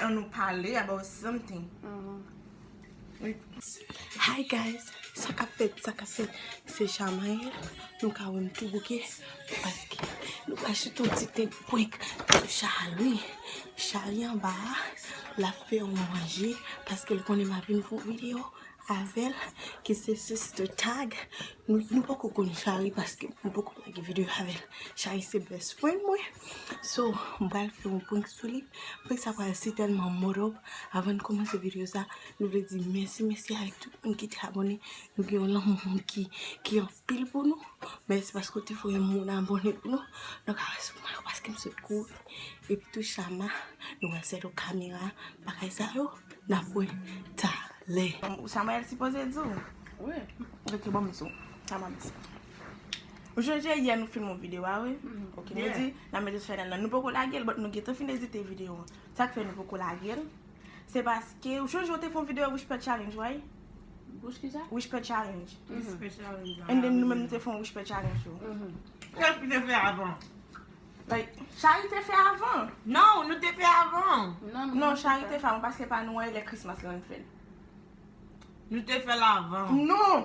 An nou pale about something. Hi guys, sa kap fèt, sa kap fèt, se Jamael, nou ka wèm tou bouke, paske nou pa chita yon ti tèt prank sou Charly, Charly anba a, lap fè yon manje, paske l konnen m ap vin fè yon video avèl ki se sister tag nou poko konn chari paske nou poko lage video avèl chari se best friend mwen so m pral fè yon prank sou li prank sa pral si tèlman mòd òp avann kòmanse video sa nou vle di mèsi mèsi avèk tout moun ki te abòne nou gen yon lanmou ki pil pou nou mèsi paske ou te voye moun abone pou nou nou ka wè sou mwen paske m sot kouri epi tou chama nou wè sèl ou kamera bagay sa yo nap wè talè chama el sipoze di w wi ok bon mèsi chama mèsi ou sonje yè nou filme yon video a wi ok nou di nan mete sou chanèl la nou poko lagel but nou gentan fin edite video an sak fè nou poko lagel Se paske ou chonje ou te fè yon video wishpè challenge right? Wish ki sa? Wishpè challenge. Wishpè challenge an. And then nou menm nou te fè yon wishpè challenge tou. Kiyès ki te fè avan? Like Shari te fè avan. Non nou te fè avan. Non Shari te fè avan paske pa nou an e lè Christmas lan nou te fè l. Nou te fè l avan. Non!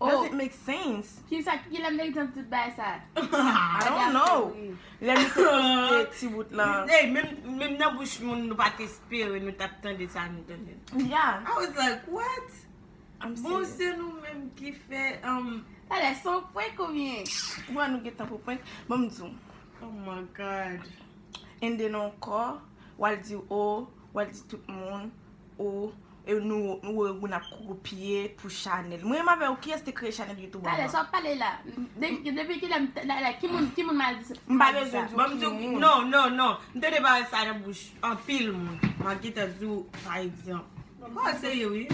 Does it make sense? Kisa ki lè meritan pou tout bagay sa? I don't know. Lè nou te poste ti bout lan. Ey menm nan bouch moun nou pat espere nou tap tande sa nou tande. Yeah. I was like what? I'm serious. Bon se nou menm ki fè um. Talè se yon prank ou byen? Wè nou gentan pou prank. Banm di w. Oh my God. Ende nan yon kò, wal di oh, wal di tout moun, Ou e nou ou e ou nap kopye pou chanel. Mwen menm avèw kiyès te kreye chanel youtube an. Talè sa wap pale la. Depi kilè m la ki moun ki moun mal di sa. M pa bezwen di w ki moun. Non non non m tande pawòl sa nan bouch anpil moun. Map gentan di w pa egzanp. Kwa se ye wi.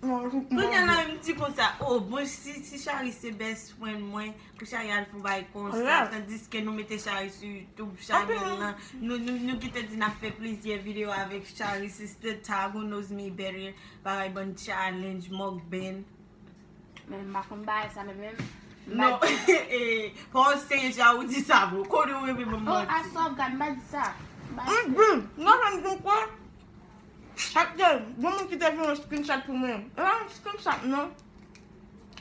Kounya la menm di konsa. Oh bon si Charis se best friend mwen. Pou chari al fon bay konsa, tandiske nou mete chari sou YouTube chanel la, nou ki te di na fe plizye video avek chari, siste tag ou noz mi bere, bagay bon challenge, mok ben. Men m bakon bay sa men men. Non, e, pou an se ja ou di sa vou, kou nou reme mou mou. A sa ou gade m ba di sa. Ou di, nan jan di kwa, chak de, yon moun ki te vin yon screenshot pou mwen, e la yon screenshot nan.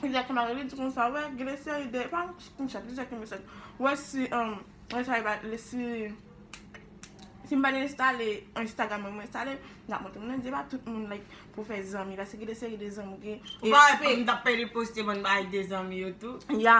Lizè ki mare li di konsa wè gen de seri de pa konn chat lizè ki mesaj wè si mwen ta rive ale si si m pa te enstale instagram mwen mwen enstale m tap montre mwen di pa tout moun like pou fè zanmi paske gen de seri de zanmi ou gen respè. Ou pa wè m tap pè li poste bon bagay de zanmi yo tou. Ya.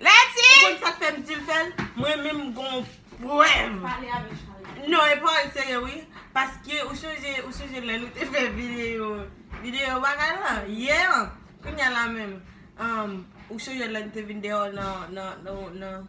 Leti! Ou konn sak fèm dil fèl? Mwen menm gon pwèv. Pale avèl Charles. Non e pawòl serye wi. Paske ou sonje ou sonje lè nou te fè video video bagay lan? Yè an? Kounya la menm. Ou sonje lè nou te vin deyò nan nan nan.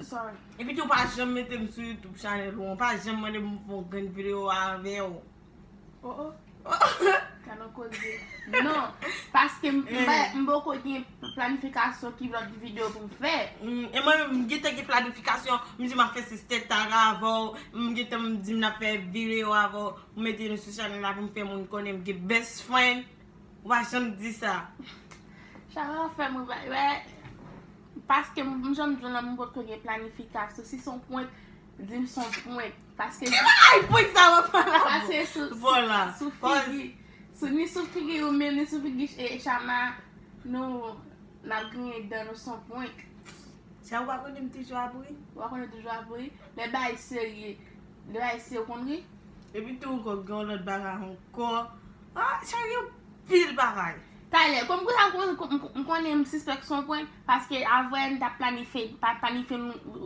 Sorry. Epi tou ou pa janm metem sou YouTube channel ou an, ou pa janm mandem pou m fè yon grenn video avèw. Oh oh. Ka nan koze. Non, paske m pa, m poko gen planifikasyon ki lòt video pou m fè. E mwen menm m gentan gen planifikasyon, m di m ap fè sister Tara avèw, m gentan m di m nan fè video avèw, pou m mete nou sou channel la pou m fè moun konnen m gen best friend. Ou pa janm di sa. Chak lè wap fèm ri, wè. Paske m jan m di w lan m potko gen planifikasyon si son pwent di m son pwent paske Ki bagay pwent sa wap pale la Pase sou Vola sou figi sou ni sou figi ou menm ni sou figi e chama nou nap griyen dan nou son pwent Chama ou pa konnen m toujou ap ri Ou pa konnen m toujou ap ri lè bagay serye lè bagay serye ou konn ri Epi tou ankò gen yon lòt bagay ankò ah chama gen anpil bagay. Taylor, Kòm pou sa m konnen m sispèk s on prank, paske avwe n t ap planifye planifye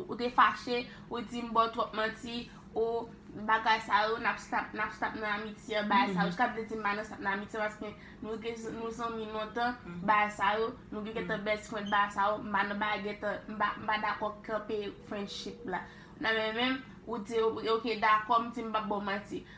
ou te fache, ou di m ba w twòp manti, ou bagay sa yo, n ap stop n ap stop nan amitye an bagay sa yo, ou ta vle di m ba nou stop nan amitye paske nou gen nou zanmi lontan bagay sa yo, nou gen gentan best friend bagay sa yo, m ba nou bagay gentan m pa m pa dakò kanpe friendship la nan men men m, ou di ok dakò m di m p ap ba w manti.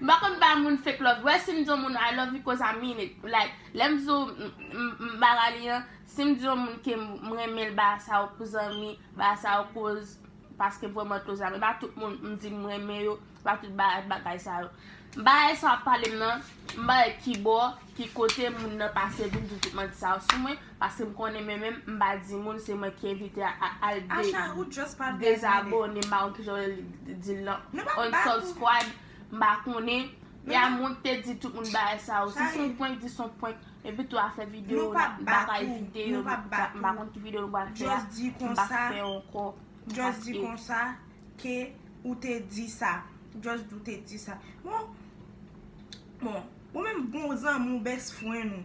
M pa konn bay moun fake love wè sim di yon moun I love you coz I mean it like lèm di w m pa ralye an sim di yon moun kem m renmen l ba sa w pou zanmi ba sa w koz paske vrèman koz la men pa tout moun m di m renmen yo pa tout bagay sa yo bagay sa wap pale m nan m pa wè kibò ki kote moun nan pase vin di tout manti sa yo sou mwen. Paske m konnen men menm m pa di moun se mwen ki envite a al dezabone m pa konn kijan yo di l lan unsubscribe m pa konnen e a moun ki te di tout moun bagay sa yo si se yon prank di se yon prank epi tou afè video m pa ka evite yo m pa konn ki video nou pral fè a m pa k fè ankò just di konsa ke ou te di sa just di ou te di sa bon ou menm bon zanmi ou best friend ou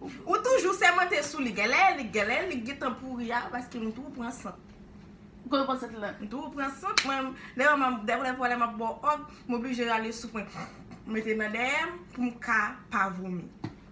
Ou toujou sèmante sou li genlè li genlè li gntan pouri a paske m tou pran sant. Ou konn pran sant la. M tou pran sant mwen dayè m ap dèfwa dèfwa lè m ap bo òg m oblije rale souf mwen mete nan dèyè m pou m ka pa vomi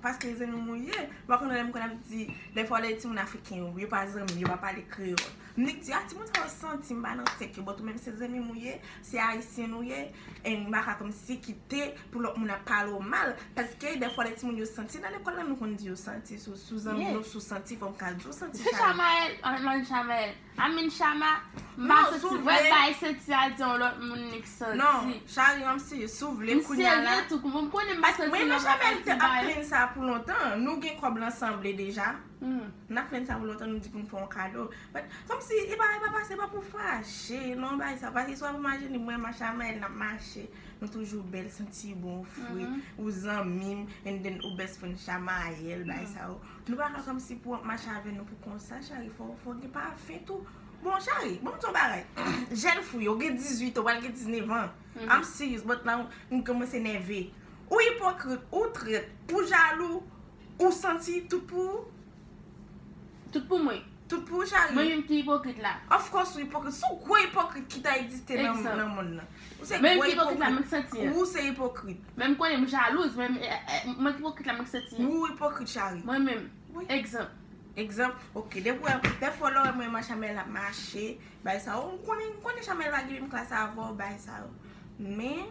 paske zanmi m ou ye m pa konn lè m konn ap di dèfwa lè timoun afriken yo yo pa zanmi yo pa pale kreyòl m nik di a timoun sa yo santi m pa nan sèk yo bòt ou menm se zanmi m ou ye se ayisyen nou ye e m pa ka kòmsi kite pou lòt moun ap pale w mal, paske dèfwa lè timoun yo santi nan lekòl la nou konn di yo santi sou zanmi yo, sou santi fò m ka di w santi Chama. Sou Chamael, an m pa di Chamael, I mean Chama, m pa santi, m pa bay santi al di yon lòt moun li k santi. Non, Chari an m serye, si w vle kounya la. M serye tou, m konnen m pa santi nan sa Chamael te ap plenn sa pou lontan, nou gen kòb lan sanble deja, n ap plenn sa pou lontan nou di pou n fè yon kado, but kòm si e pa e pa pase, e pa pou fache non bagay sa, paske si w ap imajine mwen m ak Chamael n ap mache. Nou toujou bèl santi bon ou fre ou zanmim and then ou best friend shama ayèl bagay sa yo nou pa ka kòmsi pou wap mache avè nou pou konsa cheri fòw gen pafen tou bon cheri banm di yon bagay jèn fou yo gen 18 ou pral gen 19 an am serious but now m kòmanse nève ou ipokrit ou trèt ou jalou ou santi tout pou ou. Tout pou mwen. Tout pou ou Charly. Mwen menm ki ipokrit la. Of course ou ipokrit. Sou gwo ipokrit ki ta egziste nan monn nan. Ou se gwo ipokrit. Menm ki ipokrit la mwen ki santi an. Ou se ipokrit. Menm konnen m jalouz men mwen ki ipokrit la mwen ki santi an. Ou ipokrit Charly. Mwen menm. Wi. Egzanp. Egzanp. Ok. Depi wè dèfwa ou lè wè mwen m a Shamel ap mache bay sa yo. Ou konnen Shamel pa gen menm klas avan w bay sa yo. Men.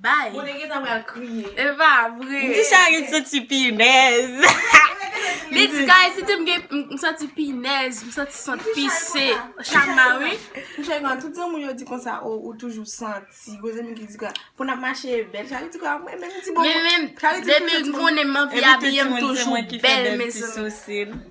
Bye. Mwen te gentan pral kriye. E pa vre. Di sa gen santi pinèz. Li di guys li di m gen m santi pinèz, m santi sant pise. Chama wi. Pou chal gwa tout zanmi yo di konsa ou ou toujou santi. Gwo zanmi ki di gwa pou nan mache bèl. Chal di gwa mwen menm ti bon. Mwen menm depi m konnen m anvi abiye m toujou bèl mezanmi.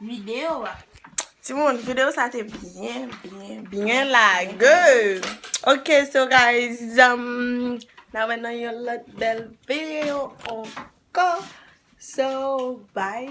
Video a. Timoun video sa te byen byen byen lage ok so guys nan wè nan yon lòt bèl video ankò so bye.